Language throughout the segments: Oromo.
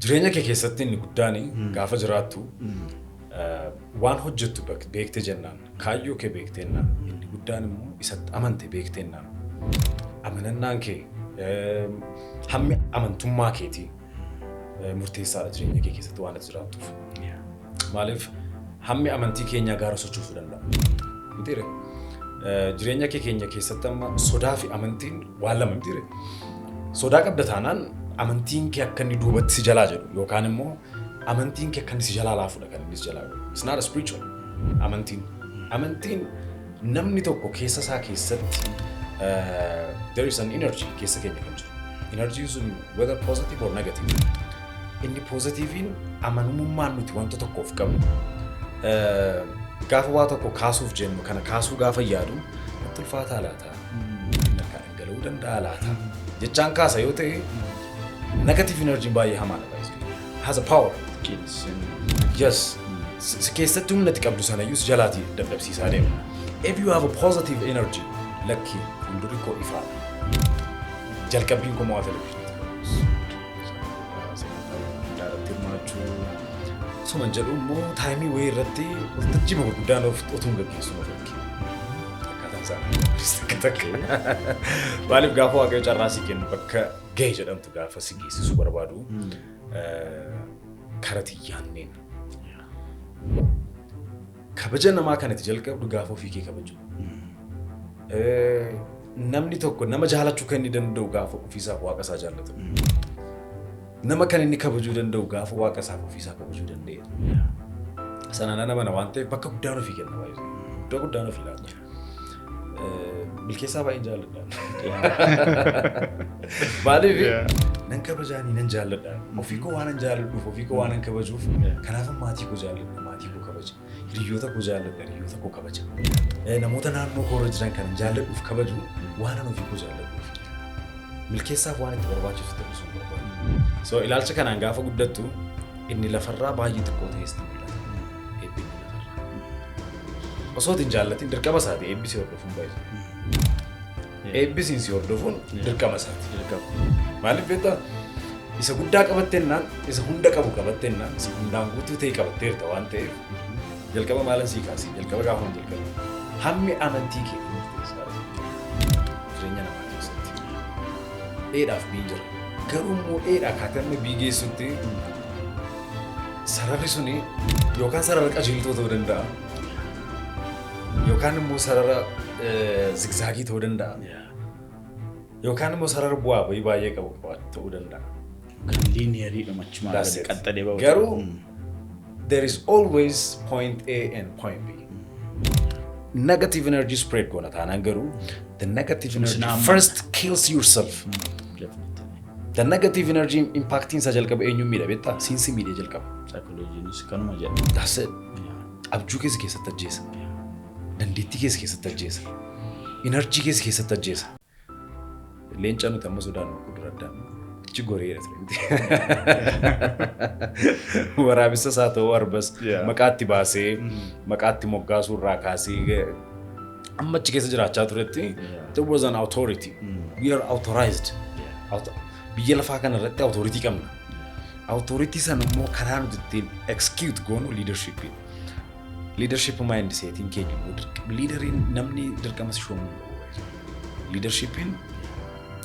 Jireenya kee keessatti inni guddaan gaafa jiraattu eh, waan hojjettu bek- beekte jennaan kaayyoo kee beekte jennaan inni guddaan immoo isatti amante beekte jennaan amanannaan kee eh, hammi amantummaa keetii eh, murteessaadha jireenya kee keessatti waan ati jiraattuuf. Maaliif hammi amantii keenyaa gaara sochoosuu danda'a. Mitiire jireenya kee keenya keessatti amma sodaa fi amantiin waan lama mitiire. Sodaa qabda taanaan amantiin kee akka inni duubatti si jalaa jedhu yookaan immoo amantiin kee akka inni si jalaa laafudha kan inni si jalaa jedhu. It's not a spiritual amantiin. Amantiin namni tokko keessa isaa keessatti eh, there is an energy keessa keenya kan jiru. Energy sun whether positive or negative. Inni poozitiiviin amanamummaan nuti wanta tokkoof qabnu eh, gaafa waa tokko kaasuuf jennu kana kaasuu gaafa yaadu natti ulfaataa laata? Lakkaa dhangala'uu danda'a laata? Jechaan kaasa yoo ta'e negative energy baay'ee hamaadha. guys. Has a power. Yes. Si si keessatti humna itti qabdu sanayyuu si jalaatii dadhabsiisaa deema. If you have a positive energy lakki fuuldurri koo ifaadha. Jalqabbiin koo mo'aa televizyinii. sagantaa gurguddaa irratti hirmaachuu suman jedhu immoo taayimii wayii irratti waltajjii gurguddaan of otuun gaggeessu na fakke. Akkaataan isaa takka takka. Maaliif gaafa waaqayyo carraa si kennu bakka ga'e jedhamtu gaafa si geessisu barbaadu eh, kara tiyyaanneen Kabaja namaa kan itti jalqabdu gaafa ofii kee kabaju. Namni tokko nama jaalachuu kan inni danda'u gaafa ofiisaaf waaqa isaa jaallatu. Nama kan inni kabajuu danda'u gaafa waaqa isaaf ofiisaa kabajuu danda'e. Sanaan ana mana waan ta'eef bakka guddaan ofii kenna baay'ee. Iddoo guddaan ofii laata. Milkeessaa baay'een jaalladha. Maaliif Yeah. nan kabajaanii nan jaalladha. Ofii koo waan nan jaalladhuuf ofii koo waan nan kabajuuf kanaaf maatii koo jaalladha maatii koo kabaja. Hiriyoota koo jaalladha hiriyoota koo kabaja. Eh, Namoota naannoo koo irra jiran kan jaalladhuuf kabaju waan nan ofii koo jaalladhuuf. Milkeessaaf waan itti barbaachisu ta'uu sun barbaadu. So ilaalcha kanaan gaafa guddattu Inni lafarraa baay'ee xiqqoo ta'ee sitti mul'ata. Eebbi inni lafarraa. Osoo hin jaallatin dirqama isaati eebbi si hordofuun baay'ee. Eebbi siin si hordofuun dirqama isaati. Maaliif beektaa? Isa guddaa qabattennaan, isa hunda qabu qabattennaan, isa hundaan guutuu ta'e qabatteerta waan ta'eef jalqaba maalan sii kaasee jalqaba gaafa hin jalqabe hammi amantii kee murteessaa jireenya namaa keessatti dheedhaaf biin jira. Garuu immoo eedha akkaataa inni bii geessutti sararri suni yookaan sarara qajeeltoo ta'uu danda'a. Yookaan immoo sarara zigzaagii ta'uu danda'a. Yookaan immoo sarara bu'aa bahii baay'ee qabu ta'uu danda'a. Kan liiniyerii dhumachumaa That's it. qaxxalee ba'u. Garuu There is always point A and point B. Negative energy spread goona taanaan garuu the negative energy Sinaamu. first kills yourself. The negative energy impactiin isaa jalqaba eenyuun miidha beektaa? Siinsi miidhee jalqaba. Saayikolojiinis kanuma jedha. That's it. Abjuu keessa keessatti ajjeesa. Dandeettii keessa keessatti ajjeesa. Enerjii keessa keessatti ajjeesa. Leenca nuti amma sodaan nu dura addaan ichi goreera turte. Waraabessas haa ta'uu arbas Yeah. maqaatti baasee maqaatti moggaasuu irraa kaasee amma achi keessa jiraachaa turetti there was an authority. We are authorized. Auto- Biyya lafaa kana irratti authority qabna. Authority sana immoo karaa nuti ittiin execute goonu leadership. Liidarship maayindi seetiin keenya immoo dirqama. Liidariin namni dirqama si shoomuu qabu. Liidarshipiin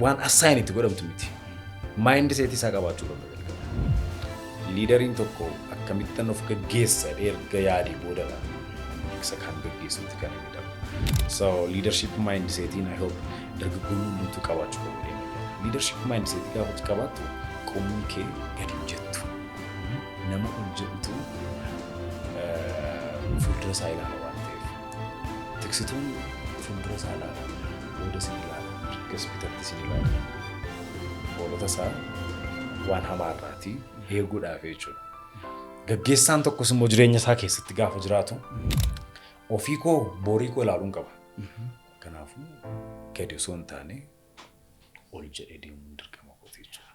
waan assaayin itti godhamtu miti. Maayindi seetii isaa qabaachuu qabna jalqaba. Liidariin tokko akkamittan of gaggeessa jedhee erga yaadee boodadha. Isa kan gaggeessuutti kan inni darbu. So liidarship maayindi seetiin I hope dargaggoonni hundumtuu qabaachuu qabu. Liidarship maayindi seetii gaafa qabaattu qomni kee gadi hin jettu. Nama ol jedhutu fuuldura isaa ilaala waan ta'eef. Tiksituun fuuldura isaa ilaala, booda isin ilaala, mirgas bitatti isin ilaala. Hoolota isaa waan hamaa irraatii eeguudhaaf jechuudha. Gaggeessaan tokkos immoo jireenya isaa keessatti gaafa jiraatu ofii koo boorii koo ilaaluun qaba. Kanaafuu gadi osoo hin taane ol jedhee deemuun dirqama kooti jechuudha.